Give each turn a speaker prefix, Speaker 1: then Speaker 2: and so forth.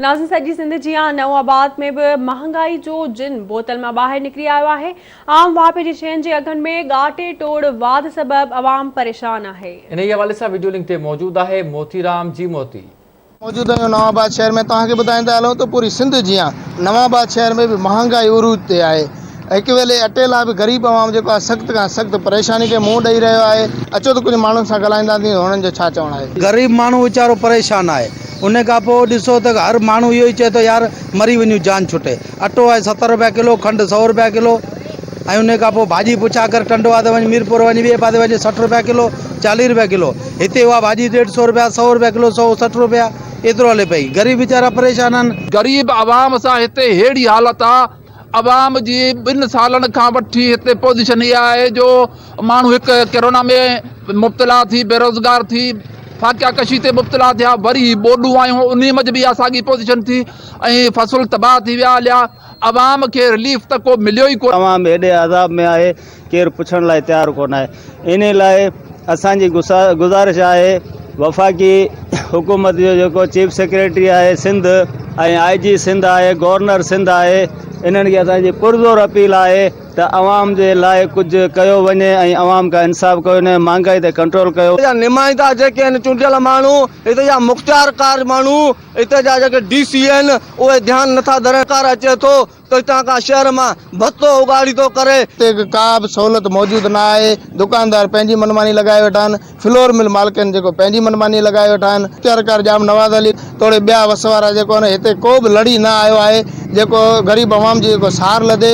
Speaker 1: ناظرين سڄي سنڌ جيان نئون آباد ۾ به مهانگائي جو جن بوتل مان ٻاهر نڪري آيو آهي، عام واهپي جي شين جي اگهن ۾ ڳاٽي ٽوڙ واڌ سبب عوام پريشان آهي. انهيء حوالي سان وڊيو لنڪ
Speaker 2: تي موجود آهي موتيرام جي موتي. موجوده آهيون
Speaker 3: نوان آباد شهر ۾ توهان کي ٻڌائيندا هلون ته پوري سنڌ جيان نوان آباد شهر ۾ به مهانگائي عروج تي آهي هڪ ويلي اٽي لاء به غريب عوام جيڪو آهي سخت کان سخت پريشاني کي منهن ڏئي رهيو آهي. اچو ته ڪجهه ماڻهن سان ڳالهائينداسين ته هنن جو ڇا چوڻ آهي. غريب ماڻهو ويچارو
Speaker 4: پريشان آهي ان کان پوء ڏسو ته هر ماڻهو اهو ئي چئي ٿو يار مري وڃون جان ڇٽي. اٽو آهي ستر رپيا ڪلو کنڊ سؤ رپيا ڪلو ۽ ان کان پوء ڀاڄي پڇا ڪر ٽنڊو آهي ته وڃ ميرپور وڃ ٻئي پاسي وڃ سٺ رپيا ڪلو چاليهه رپيا ڪلو هتي اها ڀاڄي ڏيڍ سؤ رپيا سؤ رپيا ڪلو سؤ سٺ رپيا ايترو هلي پئي غريب ويچارا پريشان آهن. غريب عوام سان
Speaker 5: هتي ههڙي حالت آهي عوام جي ٻن سالن کان وٺي هتي پوزيشن اها آهي جو ماڻهو هڪ ڪرونا ۾ مبتلا ٿي بيروزگار ٿي فاقيا ڪشي تي مبتلا ٿيا وري هي ٻوڏون آيون انهي منجهه به اها ساڳي پوزيشن ٿي ۽ فصل تباهه ٿي ويا هليا عوام کي رليف ته ڪو مليو ئي ڪو نه. عوام هيڏي عذاب ۾
Speaker 6: آهي. ڪير پڇڻ لاء تيار ڪونه آهي انهي لاء اسان جي گذارش آهي وفاقي حڪومت جو جيڪو چيف سيڪريٽري آهي سنڌ ۽ آء جي سنڌ آهي گورنر سنڌ آهي انهن کي اسان جي پرزور اپيل آهي ته عوام جي لاء ڪجهه ڪيو وڃي ۽ عوام کان انصاف ڪيو وڃي مهانگائي تي ڪنٽرول ڪيو جا نمائندا جيڪي آهن
Speaker 4: چونڊيل ماڻهو اتي جا مختيارڪار ماڻهو اتي جا جيڪي ڊي سي آهن اهي ڌيان نٿا ڌرين ڪار اچي ٿو تو هتان کان شهر مان ڀتو اگهاڙي ٿو ڪري. هتي ڪا به سهولت
Speaker 3: موجود نه آهي. دڪاندار پنهنجي منماني لڳائي ويٺا آهن. فلور مل مالڪن جيڪو پنهنجي منماني لڳائي ويٺا آهن. اختيارڪار ڄام نواز علي توڙي ٻيا وس وارا جيڪو آهن هتي ڪو به لڙي نه آيو آهي جيڪو غريب عوام جي جيڪو سار لڌي.